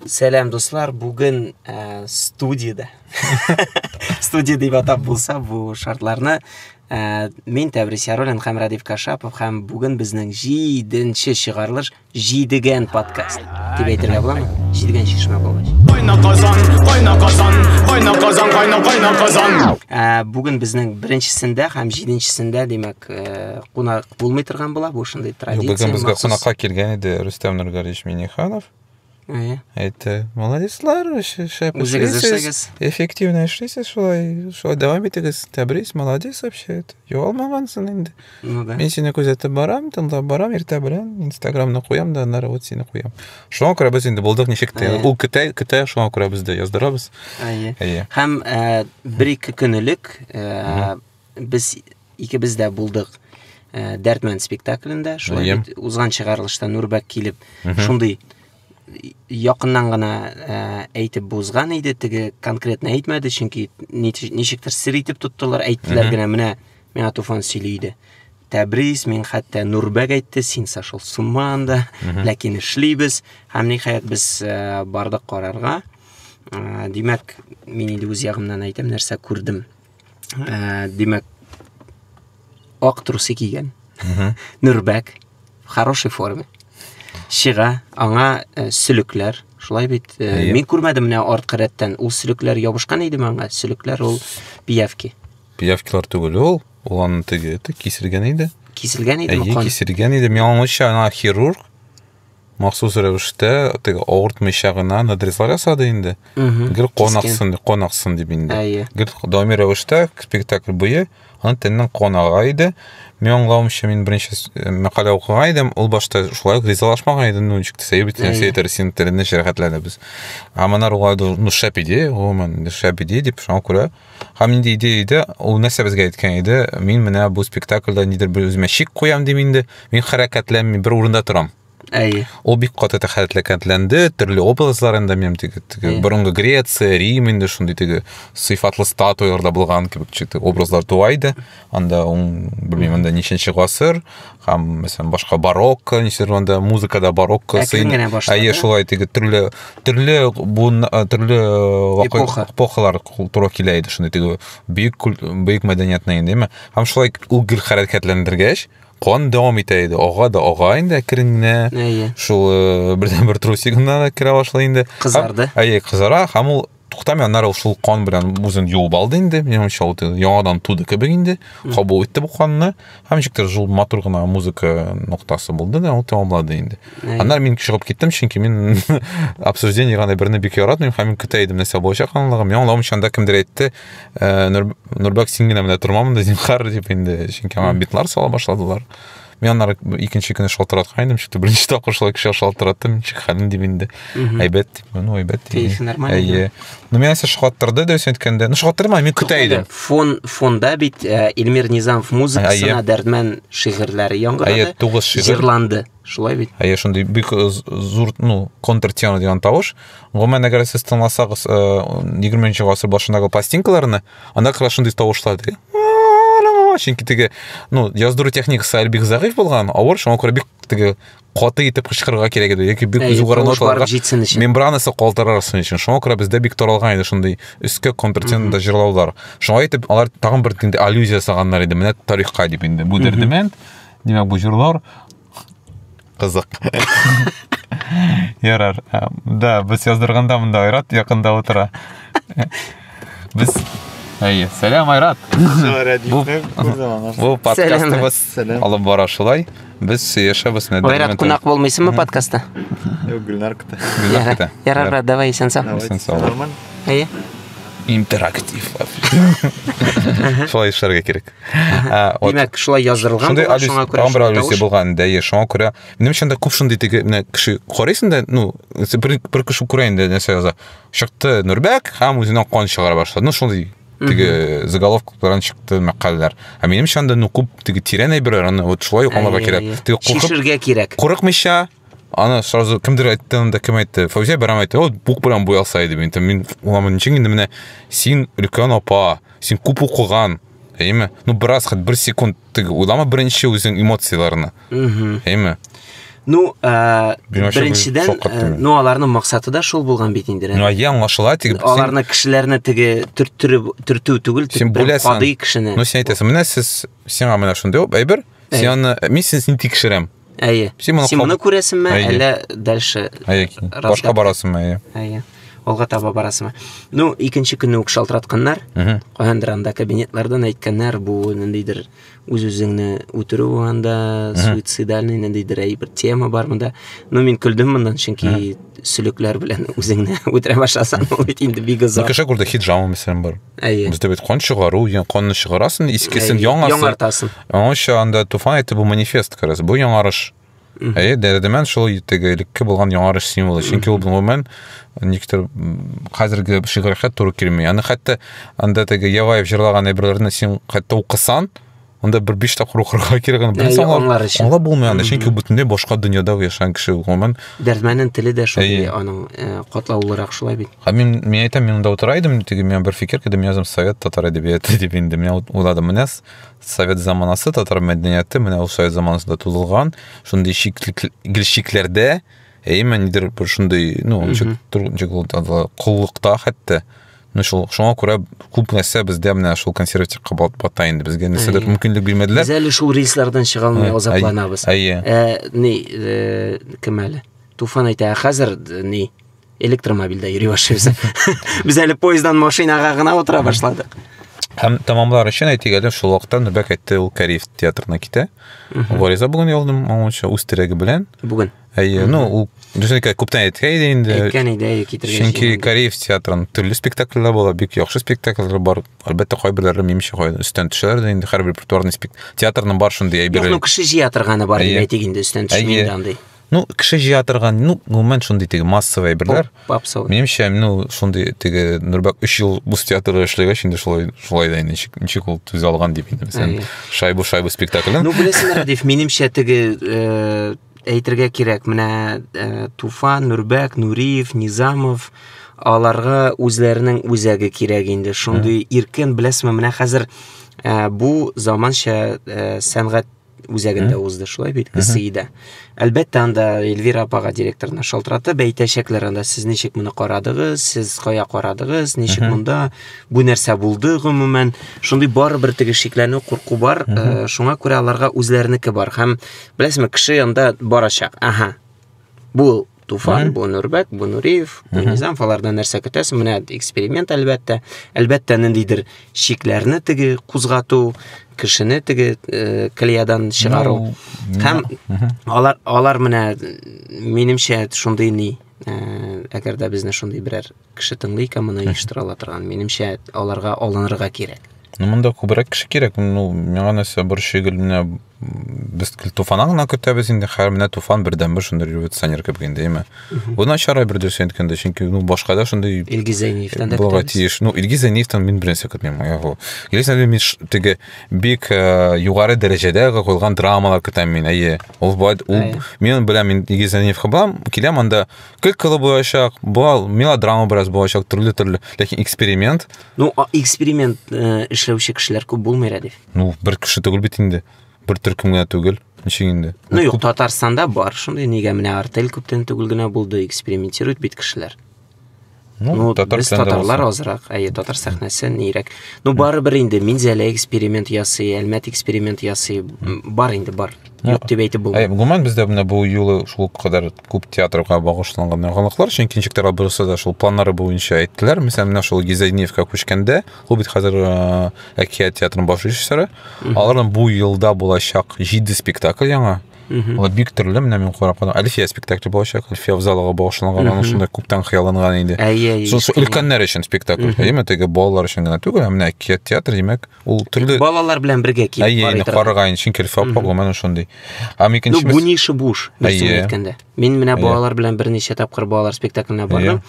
Сәлам дуслар, бүген ә, студияда. Студия дип атап булса бу шартларны ә, мин Тәбрис Яруллин һәм Радив Кашапов һәм бүген безнең 7нче чыгарылыш Җидегән подкаст дип әйтергә буламы? Җидегән чишмә булгач. Кайна казан, кайна казан, кайна казан, кайна кайна казан. Ә, бүген безнең беренчесендә һәм җиденчесендә, димәк, ә, кунак булмый торган була, бу шундый традиция. Бүген безгә кунакка килгән иде Рөстәм Нургалиевич Миниханов. Әйе. Әйтте. Молодецлар, шәп эшлисез. Эффективно эшлисез шулай. Шулай дәвам итегез. Тәбрис, молодец вообще. Югалмагансың инде. Ну да. Мин сине күзәтеп барам, тыңлап барам, иртә белән Инстаграмны куям да, аннары вот сине куям. Шуңа күрә без инде булдык ничек тә. Ул көтә, көтә, шуңа күрә без дә яздырабыз. Әйе. Әйе. Һәм э, бер-ике көнелек э, без Икебез дә булдык ә, Дәртмән спектаклендә. Шулай бит узган чыгарылышта Нурбәк килеп, шундый якыннан гына ә, әйтеп бузган иде, теге конкретно әйтмәде, чөнки ничектер сер итеп тоттылар, әйттеләр генә, менә миңа Туфан сөйли иде. Тәбрис, мин хәтта Нурбәк әйтте, син сошел с ума анда, ләкин эшлибез, һәм ниһаять без ә, бардык карарга. Ә, димәк, мин инде үз ягымнан әйтәм, нәрсә күрдем. ә, димәк, ак трусы кигән, нөрбәк, в хорошей форме, чыга, аңа ә, сөлекләр, шулай бит, ә, мин күрмәдем менә артка рәттән, ул сөлекләр ябышкан иде маңа, сөлекләр ул пиявки. Пиявкилар түгел ул, ул аны теге, киселгән иде. Киселгән иде, Әйе, киселгән иде, миңа аңлыйча, ана хирург, махсус рәвештә теге авыртмыйча гына надрезлар ясады инде гел кан аксын кан аксын дип инде әйе гел даими рәвештә спектакль буе аны тәннән кан ага иде мин аңлавымча мин беренче э, мәкалә укыган идем ул башта шулай ук ризалашмаган иде ну ничек сәю бит нәрсә әйтер син телеңне җәрәхәтләде без ә монар уңай ну шәп идея гомумән шәп идея дип шуңа күрә Һәм инде иде иде, ул нәрсә безгә әйткән иде, мин менә бу спектакльдә нидер бер үземә шик куям дим инде, мин хәрәкәтләнми бер урында торам. Әйе. Ул бик каты тәхәрәтләкәтләнде, төрле образлар инде мем теге, теге борынгы Греция, Рим инде шундый теге сыйфатлы статуяларда булган кебек читы образлар туа иде. анда ун белмим анда ничәнче гасыр һәм мәсәлән башка барокко ничәдер анда музыкада барокко әйе шулай теге төрле төрле буын э, төрле э, эпоха эпохалар туры килә иде шундый теге бөек бөек мәдәниятны инде әмма һәм шулай ул гел хәрәкәтләндергәч кан дәвам итә иде ага да ага инде әкрен генә әйе шул э, бердән бер трусигына да керә башлый инде кызарды әйе кызара һәм ул Туктамый, аннары ул шул кан белән үзен юып алды инде. Минемчә, ул яңадан туды кебек инде. Кабул итте бу канны. Һәм ничектер шул матур гына музыка ноктасы булды да, ул тәмамлады инде. Аннары мин чыгып киттем, чөнки мин обсуждение гана берне бик яратмыйм, һәм мин көтә идем нәрсә булачак анлыгы. Мин аңлавым чанда кемдер әйтте, «Э, Нурбәк, син генә менә тормамында, зинхар, дип инде, чөнки аңа битлар сала башладылар. Мин аннары икенче көне шалтыраткан идем, чөнки беренче тапкыр шулай кеше шалтыраттым, ничек хәлен дип инде. Әйбәт дип, ну әйбәт. Кәефе нормально. Әйе. Ну мин әсә шакаттырды дөрес әйткәндә. Ну шакаттырма, мин көтә идем. Фон фонда бит э, Эльмир Низамов музыкасына Дәрдмән шигырьләре яңгырады. Әйе, тугыз шигырь. Зирланды. Шулай бит. Әйе, шундый бик э, зур, ну, контртема дигән тавыш. Гомумән, әгәр сез тыңласагыз 20 э, нче гасыр башындагы пластинкаларны, анда как раз шундый тавышлар теге чөнки теге ну яздыру техникасы әле бик зәгыйфь булган авыр шуңа күрә бик теге каты итеп кычкырырга кирәк иде яки бик югары ноталарга мембранасы калтырарсын өчен шуңа күрә бездә бик таралган иде шундый өскә контртенда җырлаулар шуңа итеп алар тагын бер инде аллюзия ясаганнар иде менә тарихка дип инде бу дердемәнд димәк бу җырлар Кызык. Ярар. Ә, Да, без яздырганда монда Айрат якында утыра. Без Әйе, сәлам Айрат. Бу бу подкастыбыз Сәлам. алып бара шулай. Без сөешәбез нәдер. Айрат, кунак булмыйсыңмы подкастта? Гүлнар кыта. Ярар, ярар, брат, давай, исән сау. Исән сау. Нормально. Әйе. Интерактив. Шулай эшләргә кирәк. Ә, вот. Димәк, шулай яздырылган Шундый булган, аллюзия, шуңа күрә тагын бер шундый аллюзия тавыш. булган инде, әйе, шуңа күрә. Минем өчен дә күп шундый теге менә кеше карыйсың да, ну, сен бер, бер кеше күрә инде нәрсә яза. Чыкты Нурбәк һәм үзеннән кан чыгара башлады. Ну, шундый теге заголовка белән чыкты мәкаләләр. Ә минем өчен дә ну күп теге тирән әйберләр, аны вот шулай ук аңларга Әйе, кирәк. әйе. Теге куркып Шешергә кирәк. курыкмыйча аны сразу кемдер айтты анда кем айтты фаузия бәрәм айтты вот бук белән буялса иде мин там мин уламын ничек инде менә син өлкән апа син күп укыган әйме ну бераз хат бер секунд теге уйлама беренче үзең эмоцияләрне әйме Ну, ә, беренчедән, э, ну, аларның максаты да шул булган бит инде. Ну, я аңлашыла, тик аларны кешеләрне теге төрттереп төртү түгел, тик кадый кешене. Ну, син әйтәсең, менә сез сиңа менә шундый әйбер, син аны мин син тикшерәм. Әйе. Син моны, Син моны күрәсеңме, Әйе. әллә дальше? Әйе, башка барасыңмы, әйе. Әйе. Алга таба барасыңмы? Ну, икенче көнне үк шалтыратканнар. Каяндыр анда кабинетлардан әйткәннәр, бу ниндидер үз-үзеңне үтерү анда, суицидальный ниндидер әйбер тема бар монда. Ну, мин көлдем моннан, чөнки сөлекләр белән үзеңне үтерә башласаң, ул бит инде бик озак. Кеше күрде, хиджама мәсәлән бар. Әйе. Без дәбит кан чыгару, ян канны чыгарасын, искесен Әйе, яңасын. Яңартасын. Аңача анда туфан әйтте бу манифест кырыс. Бу яңарыш. Әйе, дәрдемән шул теге элекке булган яңарыш символы. Чөнки ул гомумән никтер хәзерге шигырьгә туры килми. Аны хәтта анда теге Яваев җырлаган әйберләрне син хәтта укысан, анда бер биш тапкыр укырга кирәк аны беренче аңлар өчен аңлап булмый аны чөнки бөтенләй башка дөньяда яшәгән кеше гомумән дәрмәнен теле дә шундый аның э, катлаулырак шулай бит һәм мин мин әйтәм мин монда утыра идем теге миңа бер фикер килде мин язам совет татар әдәбияты дип инде мин уйладым менә совет заманасы татар мәдәнияте менә ул совет заманасында тудылган шундый гел шикләрдә әйе нидер бер шундый ну ничек куллыкта хәтта Ну шул шуңа күрә күп нәрсә бездә менә шул консерватив кабат бата инде безгә нәрсәдер мөмкинлек бирмәделәр. Без әле шул рейслардан чыга алмый азапланабыз. Әйе. Э, ни, э, кем әле? Туфан әйтә, ә хәзер э, ни? Электромобильдә йөри башлыйбыз. Без әле поезддан машинага гына утыра башладык. Һәм тамамлар өчен әйтик әле шул вакытта Нөбәк әйтте ул Кариев театрына китә. Вариза бүген ялдым, моңча үз терәге белән. Бүген. Әйе, ну, ул Дүсенкә күптән әйткән иде инде. Әйткән иде, әйе, китергән. Чөнки Кореев театрын төрле спектакльләр була, бик яхшы спектакльләр бар. Әлбәттә, кайберләре минемчә кайда өстән төшәләр дә инде һәр репертуарны спек... театрның бар шундый әйберләр. Юк, ну кеше җыя торганы бар дип әйтик инде өстән төшмәйдә андый. Ну, кеше җыя торган, ну, гомумән шундый теге массовый әйберләр. Попсовый. Минемчә, ну, шундый теге Нурбак 3 ел бу театрда эшләгәч инде шулай шулай да инде ничек ул төзә алган дип инде. Шайбу шайбу спектаклен. Ну, беләсеңме, дип минемчә теге э, әйтергә кирәк, менә э, Туфан, Нурбәк, Нуриев, Низамов, аларга үзләренең үзәге кирәк инде. Шундый иркен, беләсезме, менә хәзер э, бу заманча э, сәнгать үзәгендә узды, шулай бит, Гсиидә. Әлбәттә, анда Эльвира апага директорына шалтыратып әйтәчәкләр анда, сез ничек моны карадыгыз, сез кая карадыгыз, ничек монда, бу нәрсә булды гомумән. Шундый барыбер теге шикләнү, курку бар. Э, Шуңа күрә аларга үзләренеке бар һәм Беләсеңме, кеше янда барачак. Ага. Бу Туфан, бу Нурбәк, бу Нуриев, бу Низам, алардан нәрсә көтәсең? Менә эксперимент әлбәттә. Әлбәттә, ниндидер шикләрне теге кузгату, кешене теге э, клеядан чыгару. Һәм алар алар менә минемчә шундый ни, э, әгәр дә безне шундый берәр кеше тыңлый икән моны оештыра торган минемчә аларга алынырга кирәк ну монда күбрәк кеше кирәк ну миңа нәрсә борчый гел менә без туфаннан гына көтәбез инде хәер менә туфан бердән бер шундый революционер кебек инде яме бу начар бер дөрес әйткәндә чөнки ну башка да шундый илгиз зәйниевтан да булырга тиеш ну илгиз зәйниевтан мин беренче көтмим илгиз зәйниев мин теге бик э, югары дәрәҗәдә куелган драмалар көтәм мин әйе ул ул мин беләм мин илгиз зәйниевка барам киләм анда Кылкылы булачак, бал, мелодрама бераз булачак, төрле-төрле. Ләкин эксперимент. Ну, эксперимент э, эшләүче кешеләр күп булмый рәдиф. Ну, бер кеше түгел бит инде. Бер төркем генә түгел. Ничек инде? Ну, юк, Татарстанда бар шундый, нигә менә артель күптән түгел генә булды, экспериментирует бит кешеләр. Ну, ну татар без татарлар азрак, әйе, татар сәхнәсе нирәк. Ну, бары бер инде Минзәлә эксперимент ясый, Әлмәт эксперимент ясый, бар инде бар. Юк дип әйтеп булмый. Әй, гомумән бездә менә бу юлы шул кадәр күп театрга багышланган яңалыклар, чөнки ничек тә бурысы да шул планнары буенча әйттеләр. Мисәл менә шул Гизайниевка күчкәндә, ул бит хәзер э, әкият театрының баш режиссеры. Аларның бу елда булачак 7 спектакль яңа. Угу. Аны бик төрле, менә мин карап калдым. Әлфия спектакле булачак, Әлфия в залыга багышланган, аның шунда күптән хыялланган иде. Әйе, әйе. Шул өлкәннәр өчен спектакль, әйеме, теге балалар өчен генә түгел, ә менә әкият театр, димәк, ул төрле Балалар белән бергә килеп Әйе, инде караган, чөнки Әлфия апа гомумән шундый. Һәм икенче Ну, буни шыбуш, нәрсә әйткәндә. Мин менә балалар белән берничә тапкыр балалар спектакленә бардым.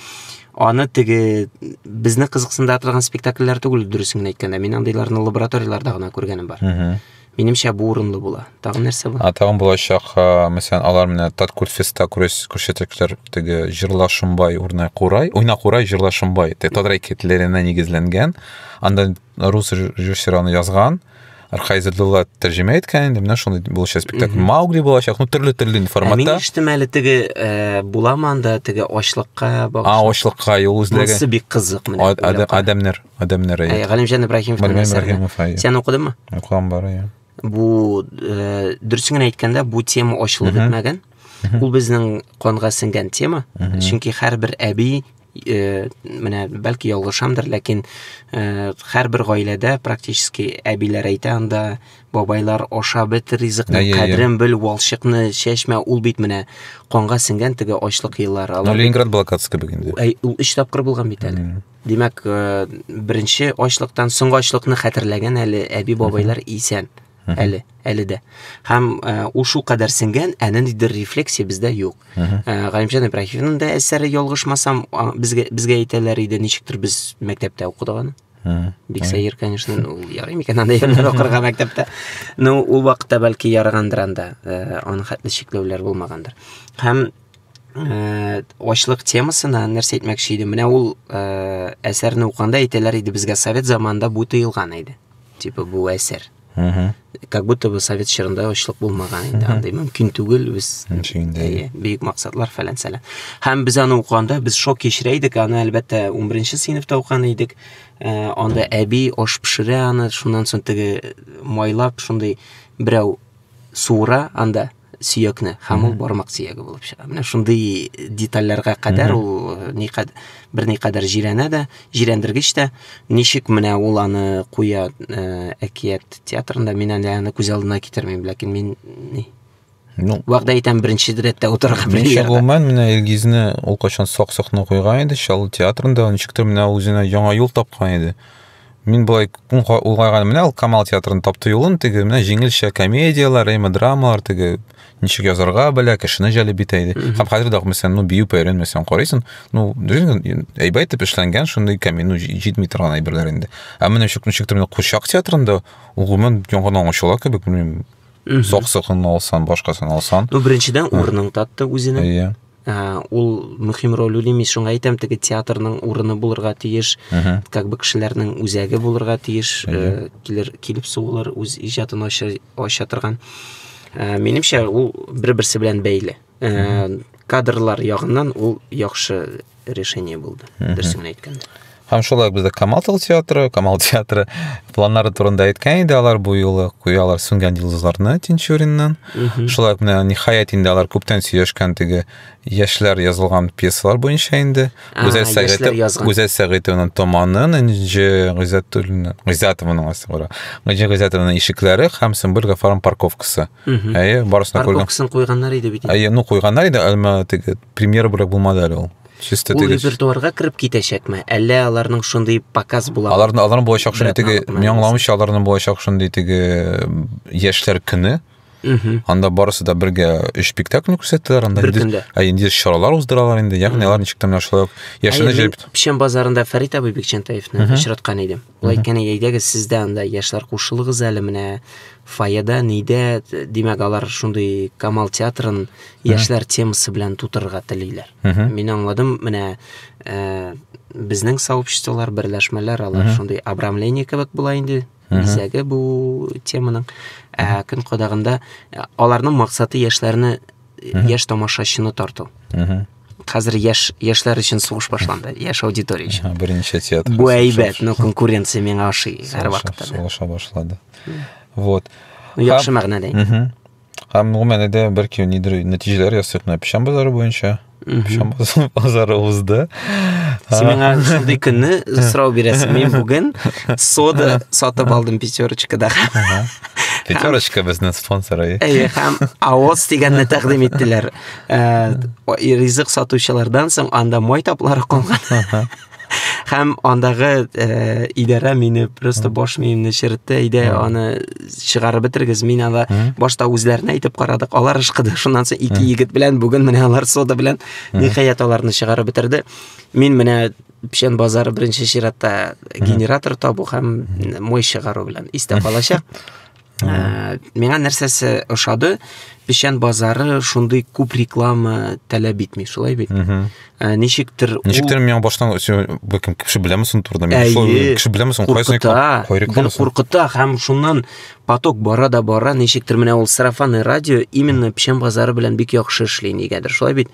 Аны теге безне кызыксындырган спектакльләр түгел, дөресен әйткәндә. Мин андыйларны лабораторияләрдә генә күргәнем бар. Минемчә, бу урынлы була. Тагын нәрсә бар? А тагын булачак, мәсәлән, алар менә Таткүл феста күрсәтәчәкләр теге Җырла Шымбай урнай курай, уйна курай Җырла Шымбай. Татар әкиятләренә нигезләнгән. Анда рус режиссеры аны язган. Архай Зәдулла тәрҗемә иткән инде, менә шундый булачак спектакль. Маугли булачак, ну төрле төрле форматта. Мин иштем әле теге э, буламы анда теге ачлыкка багышлап. А, ачлыкка юл үзләгән. Монсы бик кызык менә. Адамнар. Адәмне рәет. Ә, Галимҗан Ибраһимов. Галимҗан Ибраһимов, әйе. Сен укыдыңмы? Укыган бар, әйе. Бу, э, дөресен генә әйткәндә, бу тема ачылып бетмәгән. Ул безнең канга сеңгән тема. Чөнки һәрбер әби э, менә бәлки ялгышамдыр, ләкин э, һәрбер гаиләдә практически әбиләр әйтә анда, бабайлар аша бет ризыкны, кадрен бел, валшыкны чәчмә, ул бит менә канга сеңгән теге ачлык еллары. Ленинград блокадасы кебек инде. Ул өч тапкыр булган бит әле. Димәк, беренче ачлыктан соңгы ачлыкны хәтерләгән әле әби-бабайлар исән. Әле, әле дә. Һәм ул шул кадәр сеңгән, ә ниндидер рефлексия бездә юк. Галимҗан Ибраһимовның да әсәре ялгышмасам, безгә безгә әйтәләр иде, ничектер без мәктәптә укыдык аны. Бик сәер, конечно, ул ярый микән анда ерләр укырга мәктәптә. Ну, ул вакытта бәлки ярагандыр анда, аны хәтле чикләүләр булмагандыр. Һәм ә, ачлык темасына нәрсә әйтмәкче идем менә ул ә, әсәрне укыганда әйтәләр иде безгә совет заманында бу тыелган иде типа бу әсәр как будто бы совет чорында ачлык булмаган инде андай мөмкин түгел без әйе бөек максатлар фәлән сәлән һәм без аны укыганда без шок кичерә идек аны әлбәттә ун беренче сыйныфта укыган идек ә, анда әби аш пешерә аны шуннан соң теге майлап шундый берәү суыра анда сөякне һәм ул бармак сөяге булып чыга менә шундый детальләргә кадәр ул э, бер никадәр җирәнә дә җирәндергеч тә ничек менә ул аны куя э, әкият театрында мин әле аны күз алдына китермим ләкин мин ни ну вәгъдә итәм беренче рәттә утырырга менә гомумән менә илгизне ул кайчан сак сакны куйган иде чаллы театрында ничектер менә үзенә яңа юл тапкан иде Мин болай күн улгайган менә ул Камал театрын тапты юлын теге менә җиңелчә комедияләр, рейма драмалар теге ничек язарга белә, кешене җәлеп битә иде. Һәм хәзер дә мәсәлән, ну бию пәренмәсәң карыйсың, ну дөрен әйбәт итеп эшләнгән шундый камин, ну җитми торган әйберләр инде. Ә менә ничек ничек төр курчак театрында ул гомумән яңадан ачыла кебек, белмим. Сак-сакын алсан, башкасын алсан. Ну беренчедән урының татты үзенең. Иә. ул мөһим роль уйный мин шуңа әйтәм теге театрның урыны булырга тиеш как бы кешеләрнең үзәге булырга тиеш э, килер килеп сугылыр үз иҗатын ача, ача торган э, минемчә ул бер берсе белән бәйле э, кадрлар ягыннан ул яхшы решение булды дөресен әйткәндә Һәм шулай бездә Камал театры, Камал театры планнары турында әйткән иде алар бу юлы куялар сүнгән йолдызларны Тинчуриннан. Шулай менә ниһаять инде алар күптән сөйләшкән теге яшьләр язылган пьесалар буенча инде. Гүзәл Сәгыйтов, Гүзәл Сәгыйтованың Томанын, Энҗе Гыйззәтуллина, Гыйззәтованың асы бар. Энҗе Гыйззәтованың Ишекләре һәм Сөмбел Гафарның Парковкасы. Әйе, барысын күргән. Парковкасын куйганнар иде бит. Әйе, ну куйганнар иде, әмма теге премьера бүләк булмады әле ул. Чисто Ул теге репертуарга кереп китәчәкме? Әллә аларның шундый показ була? аларны аларны булачак шундый теге Братан, мин аңламыйча аларны булачак шундый теге яшьләр көне. Мгм. Анда барысы да бергә өч спектакль күрсәттеләр, анда Бер инде- көндә. ә, инде чаралар уздыралар инде. Ягъни алар ничек тә менә шулай ук яшьләрне Әйе, мин җәлеп Печән базарында Фәрит абый Бикчәнтаевны очраткан идем. Болай икән, әйдәгез сез дә анда яшьләр кушылыгыз әле менә фойеда, нидә, димәк, алар шундый Камал театрын яшьләр темасы белән тутырырга телиләр. Мин аңладым, менә э, безнең сообществолар, берләшмәләр, алар шундый обрамление кебек була инде, бизәге бу теманың. Ә көн кадагында э, аларның максаты яшьләрне, яшь тамашачыны тарту. Хәзер яшь яшьләр өчен сугыш башланды, яшь аудитория өчен. Берничә театр. Бу әйбәт, но конкуренция миңа ашый һәр вакытта. Сугыша башлады. Вот. Ну, яхшы мәгънәдә. Һәм гомумән дә бер кем нидер нәтиҗәләр ясыйк, менә печән базары буенча. Печән базары узды. Син миңа шундый көнне сорау бирәсең. Мин бүген сода сатып алдым пятерочкада. Пятерочка безнең спонсоры. Әйе, һәм Аос дигәнне тәкъдим иттеләр. Ә, ризык сатучылардан соң анда май таплары калган. Һәм андагы ә, идарә мине просто баш миемне черетте, әйдә аны чыгарып бетергез. Мин ала башта үзләренә әйтеп карадык, алар ышкыды. Шуннан соң ике егет белән бүген менә алар сода белән ниһаять аларны чыгарып бетерде. Мин менә печән базары беренче чиратта генератор табу һәм май чыгару белән истә калачак. Ә, миңа нәрсәсе ошады, печән базары шундый күп реклама таләп итми, шулай бит? Ә, ничектер ул- Ничектер миңа баштан все, бәлкем кеше беләме соң турыда? Мин Әйе. шулай уйлыйм, Кеше беләме соң кайсы куркыта, реклама? Кай реклама гел соң? куркыта һәм шуннан поток бара да бара, ничектер менә ул сарафанный радио именно печән базары белән бик яхшы эшли, нигәдер, шулай бит?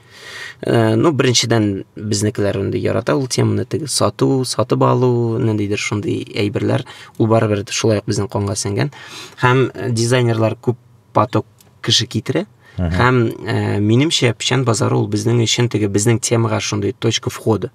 Э, ну беренчедән безнекеләр инде ярата ул теманы теге сату сатып алу ниндидер шундый әйберләр ул барыбер шулай ук безнең канга сеңгән һәм э, дизайнерлар күп поток кеше китерә һәм ә, э, минемчә печән базары ул безнең өчен теге безнең темага шундый точка входа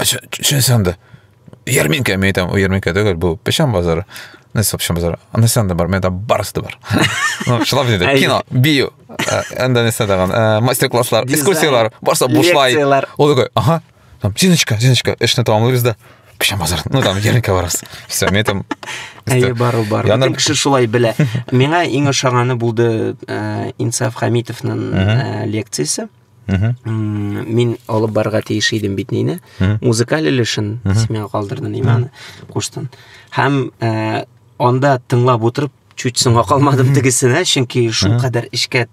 Шунысы анда. Ярминка, мен айтам, ярминка түгел, бу печән базары. Нәрсә печән базары? Нәрсә анда бар? Менә барысы да бар. Ну, шулап диде. Кино, бию. Анда нәрсә даган? Мастер-класслар, экскурсиялар, барса бушлай. Ул такой, ага. Там Зиночка, Зиночка, эшне тамамлыйбыз да. Печән базар. Ну, там ярминка барабыз. Все, мен там Әйе, бару бар. Бөтен кеше шулай белә. Миңа иң ошаганы булды Инсаф Хамитовның лекциясе. мин алып барырга тиеш идем бит нине музыкаль өлешен сиңа калдырды ниманы куштын һәм э, анда тыңлап утырып чуть соңга калмадым тегесенә чөнки шул кадәр эчкә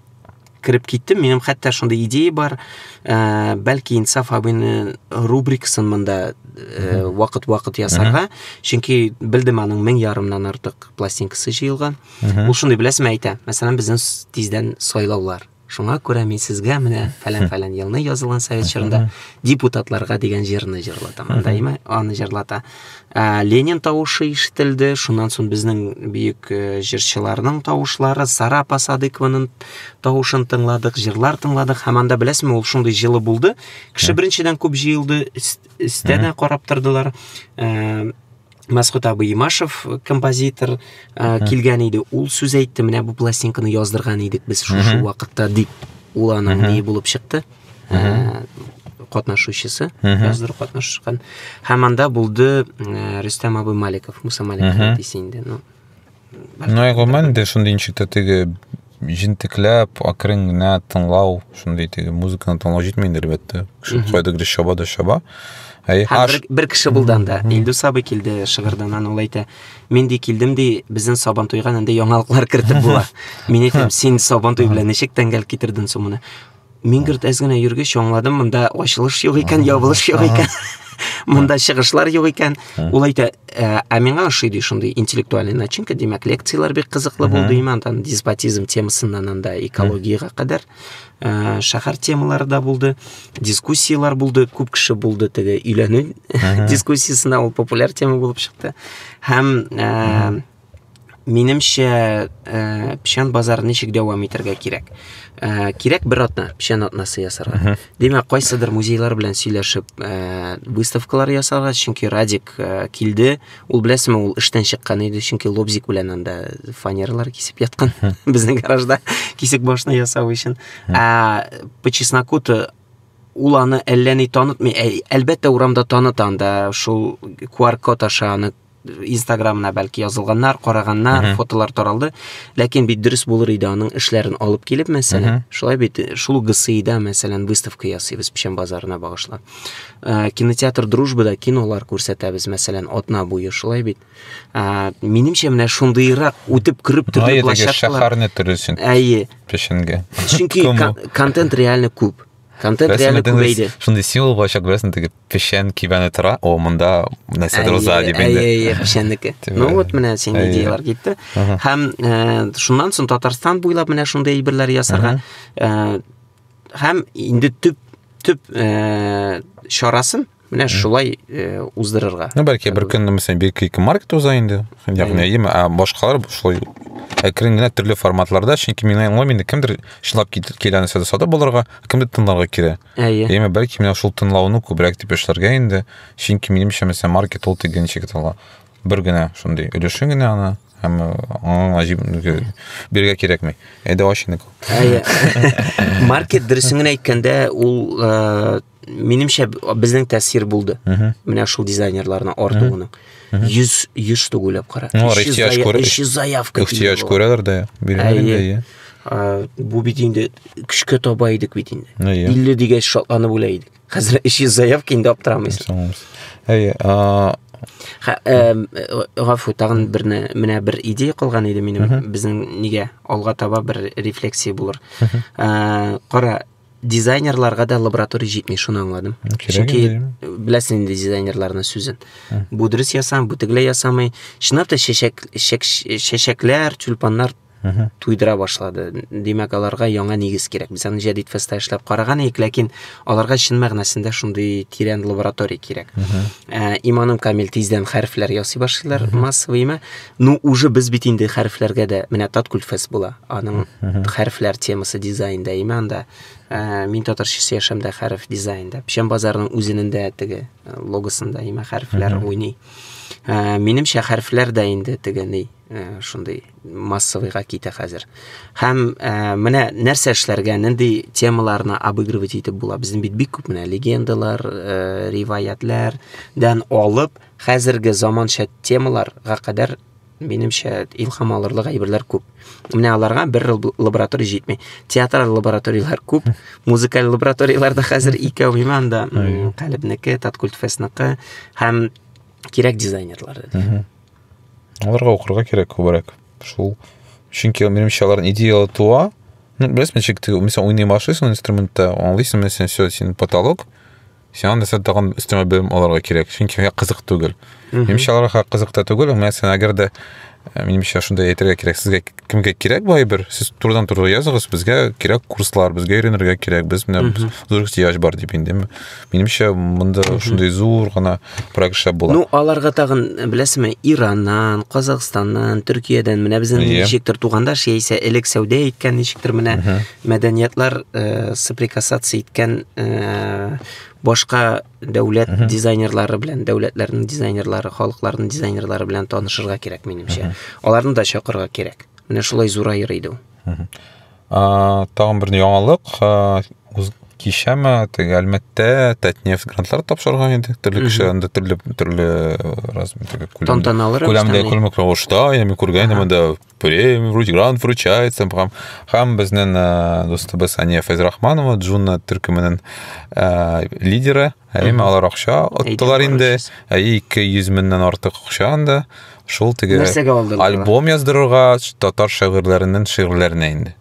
кереп киттем минем хәтта шундый идея бар ә, бәлки инсаф абыйны рубрикасын монда э, вакыт вакыт ясарга чөнки белдем аның мең ярымнан артык пластинкасы җыелган ул шундый беләсеңме әйтә мәсәлән безнең тиздән сайлаулар Шуңа күрә мин сезгә менә фәлән-фәлән елны язылган совет чорында депутатларга дигән җырны җырлатам. Даима аны җырлата. Ә, Ленин тавышы ишетелде. Шуннан соң безнең бөек э, җырчыларның тавышлары, Сара апа Садыкованың тавышын тыңладык, җырлар тыңладык. Һәм анда беләсезме, ул шундый җылы булды. Кеше беренчедән күп җыелды, өс- өстә дә карап тордылар. Э, Мәсхүт абый Имашев э, композитор ә, э, килгән иде. Ул сүз әйтте, менә бу пластинканы яздырган идек без шушы вакытта дип. Ул аның ни булып чыкты? Э, катнашучысы, яздыру катнашкан. Һәм анда булды Рөстәм абый Маликов, Муса Маликов дисә инде. Ну, Ну, ә гомумән дә шундый ничек тә теге җентекләп, акрын генә тыңлау, шундый теге музыканы тыңлау җитми инде, әлбәттә. Кеше кайдадыр чаба да чаба. Әй, Һәм аш... бер, бер кеше булды анда. Илдус абый килде Шыгырданнан, ул әйтә, мин ди килдем ди, безнең Сабантуйга нинди яңалыклар кертеп була. Мин әйтәм, син Сабантуй белән ничек тәңгәл китердең соң моны? Мин гөрт әз генә йөргәч аңладым, монда ачылыш юк икән, ябылыш юк икән. Монда чыгышлар юк икән. Ул әйтә, ә ә миңа ошый ди шундый интеллектуальный начинка, димәк, лекцияләр бик кызыклы булды имән, там деспотизм темасыннан анда экологиягә кадәр ә, шәһәр темалары да булды, дискуссияләр булды, күп кеше булды теге өйләнү дискуссиясенә, ул популяр тема булып чыкты. Һәм ә, Минемчә, э, печән базар ничек дәвам итәргә кирәк? Э, кирәк бер атна, печән атнасы ясарга. Димәк, кайсыдыр музейлар белән сөйләшеп, э, выставкалар ясарга, чөнки Радик э, килде. Ул беләсеме, ул эштән чыккан иде, чөнки лобзик белән анда фанерлар кисеп яткан безнең гаражда кисек башны ясау өчен. Ә по чесноку ул аны әллә ни танытмый. Әлбәттә, урамда таныта анда шул QR-код аша аны инстаграмына бәлки язылганнар караганнар фотолар таралды ләкин бит дөрес булыр иде аның эшләрен алып килеп мәсәлән шулай бит шул гсида мәсәлән выставка ясыйбыз печән базарына багышлап ә, кинотеатр дружбада кинолар күрсәтәбез мәсәлән атна буе шулай бит ә, минемчә менә шундыйрак үтеп кереп төрле площадкалар шәһәрне төрлесен әйе печәнгә чөнки контент реально күп контент реально күбәйде шундый символ булачак беләсең тегеп Печән кибәне тора, о, монда нәрсәдер уза дип инде. Әйе, печәннеке. Ну вот менә син идеялар китте. Һәм шуннан соң Татарстан буйлап менә шундый әйберләр ясарга һәм инде төп төп чарасын менә шулай э, уздырырга ну бәлки бер көн мәсәлән бер ике маркет уза инде ягъни әйеме ә башкалар шулай әкрен генә төрле форматларда чөнки миңа аңламыйм инде кемдер чынлап килә нәрсәдә сатып алырга кемдер тыңларга килә Әйе. Димә, бәлки менә шул тынлауны күбрәк дип эшләргә инде. Чөнки минемчә, мәсәлән, маркет ул тик генә чиктала. Бер генә шундый өлеше генә аны һәм аңа гаҗиб биргә кирәкми. Әйдә ач инде. Әйе. Маркет дөресен генә әйткәндә, ул минемчә безнең тәэсир булды. Менә шул дизайнерларның артуының. Йөз, йөз штук уйлап кара. Ну, алар ихтияж күрә. Өч йөз заявка. Ихтияж күрәләр дә. Әйе. Бу бит инде көчкә таба идек бит инде. Илле дигәч шатланып үлә идек. Хәзер өч йөз заявка инде аптырамыйсың. Әйе. Гафу, тагын берне, менә бер идея калган иде минем. Безнең нигә алга таба бер рефлексия булыр. Кара, дизайнерларга да лаборатория җитми, шуны аңладым. Чөнки беләсең инде дизайнерларның сүзен. Бу дөрес ясам, бу тегеләй ясамый. Чынлап та чәчәк, чәчәкләр, тюльпаннар туйдыра башлады. Димәк, аларга яңа нигез кирәк. Без аны Җәдид фестта эшләп караган идек, ләкин аларга чын мәгънәсендә шундый тирән лаборатория кирәк. Ә, иманым камил тиздән хәрефләр ясый башлыйлар массовыймы. Ну, уже без бит инде хәрефләргә дә менә Таткульфес була. Аның хәрефләр темасы дизайнда, име анда. Ә, мин татарчасы яшәмдә хәреф дизайнда. Печән базарының үзенендә теге э, логосында име хәрефләр уйный. Ә, минемчә хәрефләр дә инде теге ни, э, шундый массовыйга китә хәзер. Һәм ә, менә нәрсә эшләргә, нинди темаларны обыгрывать итеп була. Безнең бит бик күп менә легендалар, э, риваятләрдән алып хәзерге заманча темалар га кадәр минемчә илхам алырлык әйберләр күп. Менә аларга бер лаборатория җитми. Театраль лабораторияләр күп, музыкаль лабораторияләр дә хәзер икәү иманда, Калебнеке, Таткультфестныкы һәм кирәк дизайнерлар. Аларга укырга кирәк күбрәк. Шул чөнки минемчә алар идеялы туа. Ну, беләсең, ничек ты, мисал, уйный машина инструментта, аңлыйсың, мисал, все, син потолок, Сиңа нәрсә тагын өстәмә белем алырга кирәк, чөнки миңа кызык түгел. Минемчә аларга кызык та түгел, мәсәлән, әгәр дә э, минемчә шундай әйтергә кирәк, сезгә кемгә кирәк бу әйбер, сез турыдан туры языгыз, безгә кирәк курслар, безгә өйрәнергә кирәк, без менә зур ихтыяҗ бар дип инде. Минемчә монда шундый зур гына проект эшләп була. Ну, аларга тагын, э, беләсезме, Ираннан, Казахстаннан, Төркиядән, менә безнең yeah. Иә. ничектер тугандаш, яисә элек сәүдә иткән ничектер менә мәдәниятлар э, соприкасаться иткән э, башка дәүләт uh -huh. дизайнерлары белән дәүләтләрнең дизайнерлары халыкларның дизайнерлары белән танышырга кирәк минемчә uh -huh. аларны да чакырырга кирәк менә шулай зураер иде ул uh -huh. ә, тагын бер яңалык ә, кичәме теге әлмәттә татнефть грантлар тапшырган иде төрле кеше анда төрле төрле размер күләмдә күләмдә күлмәк рәвештә яме күргән инде монда премия вроде грант вручается һәм, һәм безнең ә, дустыбыз Ания Фәйзрахманова Джунна төркеменең ә, лидеры әйме алар акча оттылар инде ә, ике йөз меңнән артык акча анда шул теге альбом яздырырга татар шагыйрьләренең шигырьләренә инде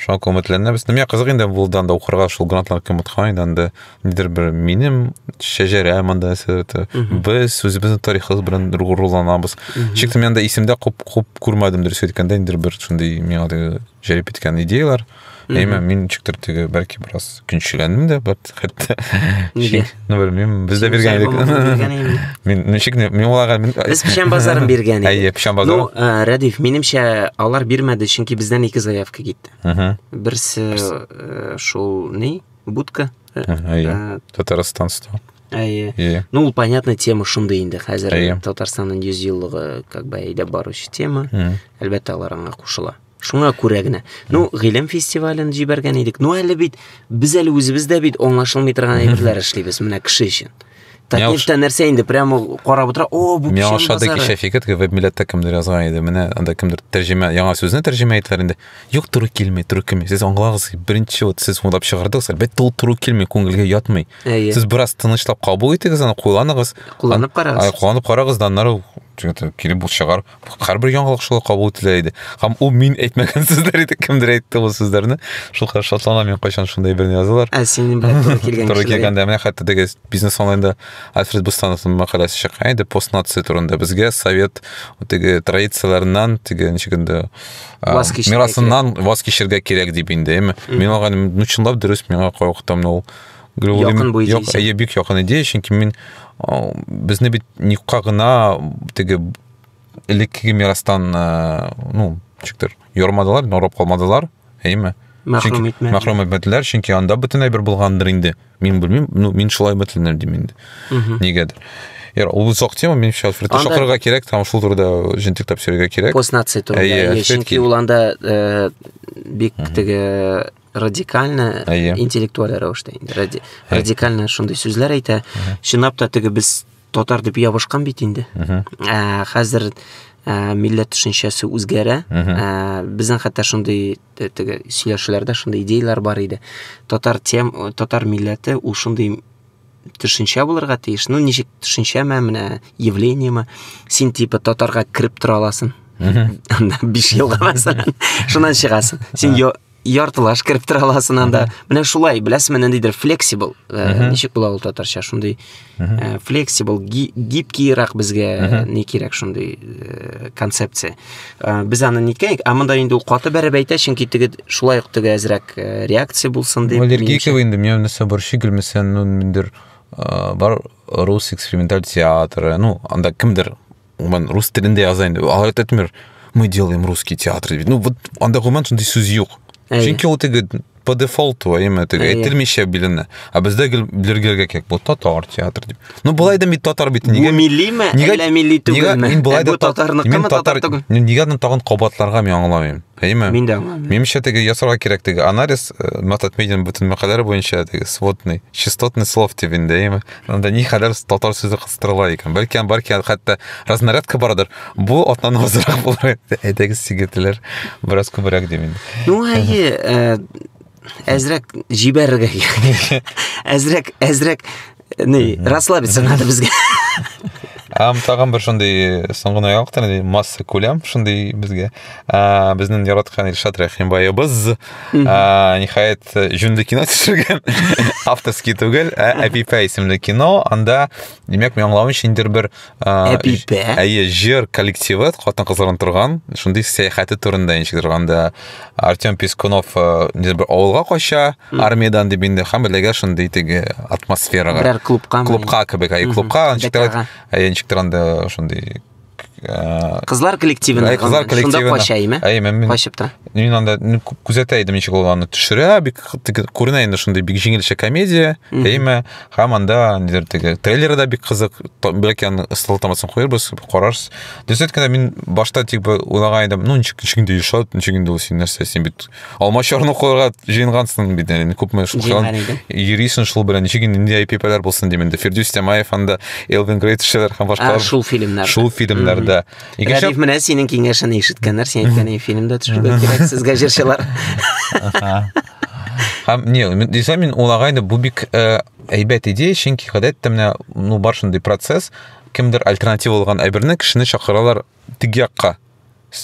Шуңа күрә өметләнәбез. Менә кызык инде булдан да укырга шул грантлар кем откан инде анда нидер бер минем шәҗәрә монда әсәрте. Без үзебезнең тарихыбыз белән руланабыз. Чик мен анда исемдә күп күп күрмәдем дөрес әйткәндә инде бер шундый миңа да җәлеп иткән идеяләр. Әмма мин чиктер теге бәлки бераз көншегәнмен дә бер хәтта нигә ну белмим без дә биргән идек мин ничек мин аларга без печән базарын биргән идек әйе печән базары ну э, рәдиф минемчә алар бирмәде чөнки бездән ике заявка китте берсе э, шул ни будка э, әйе татарстан стал әйе иә. ну ул понятно тема шундый инде хәзер татарстанның йөз еллыгы как бы әйдәп баручы тема әлбәттә алар аңа кушыла Шуңа күрә генә. Ну, гыйлем фестивален җибәргән идек. Ну, әле бит без әле үзебез дә бит аңлашылмый торган әйберләр эшлибез менә кеше өчен. Такнифта нәрсә инде прямо карап утыра. О, бу печән базары. Миошадык ишә фикет, веб милләттә кемдер язган иде. Менә анда кемдер тәрҗемә, яңа сүзне тәрҗемә иттеләр инде. Юк, туры килми, туры килми. Сез аңлагыз, беренче вот сез уйлап чыгардыгыз, әлбәттә ул туры килми, күңелгә ятмый. Сез бераз тынычлап кабул итегез аны, кулланыгыз. Кулланып карагыз. Кулланып карагыз, да аннары килеп бу чыгар. һәрбер яңалык шулай кабул ителә иде һәм ул мин әйтмәгән сүзләр иде кемдер әйтте ул сүзләрне шул кадәр шатланам мин кайчан шундай берне язалар ә син белән туры килгән туры килгәндә менә хәтта теге бизнес онлайнда альфред бустановның мәкаләсе чыккан иде постнация турында безгә совет теге традицияләреннән теге ничек инде мирасыннан ваз кичергә кирәк дип инде әйме мин алган ну чынлап дөрес миңа кайвакытта менә ул Якын бу идея. Әйе, бик якын идея, чөнки мин безне бит никка гына теге элеккеге мирастан, ну, чиктер, йормадылар, норып калмадылар, әйеме? Мәхрүм итмәделәр. Мәхрүм итмәделәр, чөнки анда бөтенләй бер булгандыр инде. Мин белмим, ну, мин шулай бөтенләр дим инде. Нигәдер. Яр, ул зак тема, мин сейчас фрит шакырга кирәк, там шул турыда җентик тапсырырга кирәк. Пост нация турында. Әйе, чөнки ул анда бик теге радикальны әйе интеллектуаль рәвештә инде ради, радикальны шундый сүзләр әйтә чынлап та теге без татар дип ябышкан бит инде ә, хәзер ә, милләт төшенчәсе үзгәрә ә, безнең хәтта шундый теге сөйләшүләрдә шундый идеяләр бар иде татар тем татар милләте ул шундый төшенчә булырга тиеш ну ничек төшенчәме менә явлениеме син типа татарга кереп тора аласың анда биш елга мәсәлән шуннан чыгасың син яртылаш кереп тора аласың анда менә шулай беләсеңме ниндидер флексибл э, ничек була ул татарча шундый э, флексибл гибкиерак безгә ни кирәк шундый э, концепция без аны ниткәйек ә монда инде ул каты бәреп әйтә чөнки теге шулай ук теге әзрәк реакция булсын дип аллергиков инде меня нәрсә борчый гөлмесән ну ниндидер бар рус эксперименталь театры ну анда кемдер гомумән рус телендә яза инде алар әйтәтмер мы делаем русский театр ну вот анда гомумән шундый сүз юк чөнки ул теге по дефолту әйеме теге әйтелмичә билена а бездә гел билергәләргә кирәк бу татар театр дип ну болай да мин татар бит нигә миллиме әллә милли түгелме мин болай да татарныкымы татар түгел нигә аны тагын кабатларга мин аңламыйм Әйме? Мин дә аңламыйм. Минемчә теге ясарга кирәк теге анализ э, Матат Медин бөтен мәкаләләр буенча теге сводный, частотный слов дип инде, әйме? Анда ни хәләр татар сүзе кыстырыла икән. Бәлки ан бар икән, хәтта разнарядка бардыр. Бу атнаны азрак булыр. Әйдәгез сигетләр, бераз күбрәк дим инде. Ну, әйе, э, әзрәк җибәрергә кирәк әзрәк әзрәк не расслабиться надо безгә Ам тагын бер шундый соңгы ноябрь тәне масса күләм шундый безгә. А безнең яраткан Илшат Рәхимбаебыз а нихаят җүнле кино төшергән. Авторский түгел, ә Әпипә исемле кино. Анда, димәк, мин аңлавымча, инде бер Әбипә. Әйе, җыр коллективы хатын кызлардан торган, шундый сәяхәте турында ничек торганда Артем Пискунов э, нидер бер авылга кача, армиядән дип инде һәм эләгә шундый теге атмосферага. Берәр клубка. Клубка кебек, әйе, клубка, ничек торганда, әйе, ничек торганда шундый э, Кызлар коллективына. Әйе, кызлар коллективына. Шунда кача, әйме? Әйе, мин качып та. Мин анда күзәтә идем, ничек ул аны төшерә, бик күренә инде шундый бик җиңелчә комедия, әйме? Һәм анда нидер теге трейлеры да бик кызык. Бәлки аны ысыл тамасын куербыз, карарсыз. Дөресен генә мин башта тик бер уйлаган идем, ну ничек ничек инде ишат, ничек инде ул син нәрсә син бит алма чарны куярга җыенгансың бит, яни күпме шул йөрисең шул белән, ничек инде нинди айпипалар булсын дим инде. Фирдүс Тямаев анда Элвин Грейт шәләр һәм башка. Шул фильмнар. Шул фильмнарда. Икенче менә синең киңәшеңне ишеткәннәр, син әйткән фильмда төшергә кирәк сезгә җырчылар. Һәм не, дисәм мин улагайды, бу бик э, әйбәт идея, чөнки гадәттә менә ну бар шундый процесс, кемдер альтернатива булган әйберне кешене чакыралар теге якка.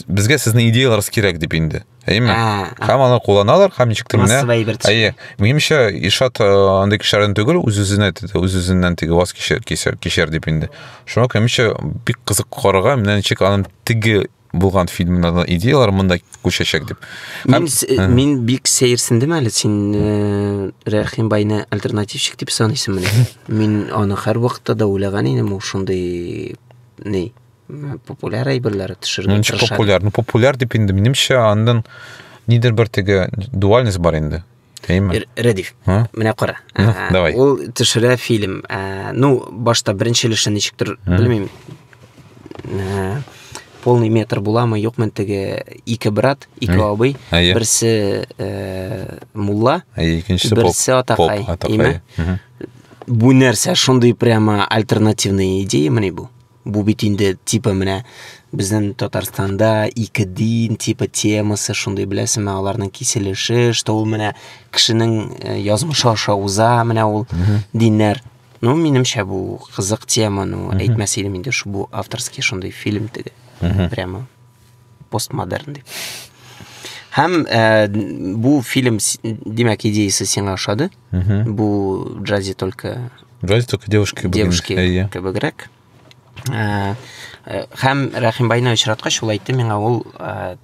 Безгә сезнең идеяларыгыз кирәк дип инде. Әйме? Һәм алар кулланалар, һәм ничек тә менә. Әйе. Минемчә, Ишат э, андый кешеләрдән түгел, үз-үзенә үз-үзеннән теге ваз кишер кишер кишер дип инде. Шуңа күрә минемчә бик кызык карарга, менә ничек аның теге булган фильмнардан идеялар монда күчәчәк дип. Мин, э, мин бик сәерсендем әле син э, Рәхим байны альтернативщик дип саныйсың менә. Мин аны һәр вакытта да уйлаган идем, ул шундый ни популяр әйберләр төшерергә ну, тырыша. популяр, ну популяр дип инде минемчә андан нидер бер теге дуальность бар инде. Әйме? Рәдиф, а? менә кара. Ну, ә, давай. Ул төшерә фильм. Ә, ну, башта беренче өлешен ничектер, белмим. Ә, полный метр буламы, юкмы теге ике брат, ике абый, берсе ә, мулла, икенчесе берсе атакай, әйме? Бу нәрсә шундый прямо альтернативный идея мени бу? Бу бит инде типа менә безнең Татарстанда ике дин типа темасы шундый беләсеңме аларның киселеше, что ул менә кешенең э, язмышы аша уза, менә ул диннәр. Ну, минемчә бу кызык тема, ну, әйтмәс идем инде, что бу авторский шундый фильм теге. Прямо постмодерн дип һәм ә, бу фильм димәк идеясы сиңа ошады бу джази только джази только девушки девушки кебегрәк ә, ә, һәм рәхимбайны очраткач ул әйтте миңа ул ә,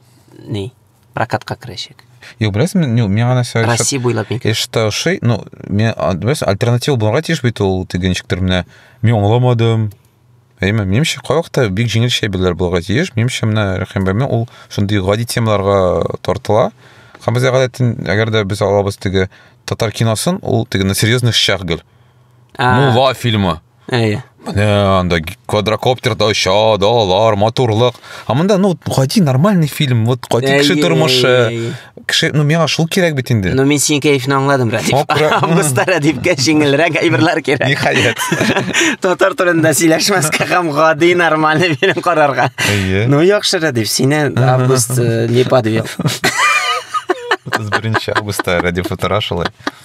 ни прокатка керәчәк Юк, беләсеңме, ну, миңа нәрсә... Россия буйлап микән? Эштә ошый, ну, мен, беләсең, альтернатива булырга тиеш бит ул, теге ничектер менә, мин аңламадым, Әйме, минемчә, кайвакытта бик җиңел чәйберләр булырга тиеш. Минемчә, менә Рәхим бәйме ул шундый гади темаларга тартыла. Һәм без гадәтен, әгәр дә без алабыз теге татар киносын, ул теге на серьезных щах гел. Мула фильмы. Әйе. Менә анда квадрокоптерда оча, далалар, матурлык. А монда ну гади нормальный фильм, вот гади кеше тормышы. Кеше, ну миңа шул кирәк бит инде. Ну мин синең кәефне аңладым, Радик. Августта Радикка җиңелрәк әйберләр кирәк. Ниһаять. Татар телендә сөйләшмәскә һәм гади нормаль фильм карарга. Ну яхшы, Радик, сине август э, не подвел. 31 августта Радик Футура шулай.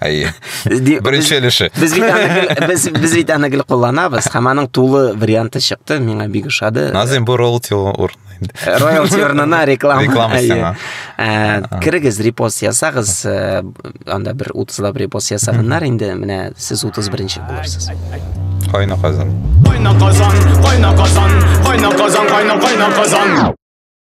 Әйе. Беренче өлеше. Без бит аны гел без без бит аны гел кулланабыз. Һәм аның тулы варианты чыкты, миңа бик ошады. Назим бу роялти урын. Роялти урынына реклама. Реклама сиңа. Ә, кирегез репост ясагыз, э, анда бер 30 лап репост ясаганнар инде, менә сез 31-нче булырсыз. Кайна казан. Кайна казан, кайна казан, кайна казан, кайна казан.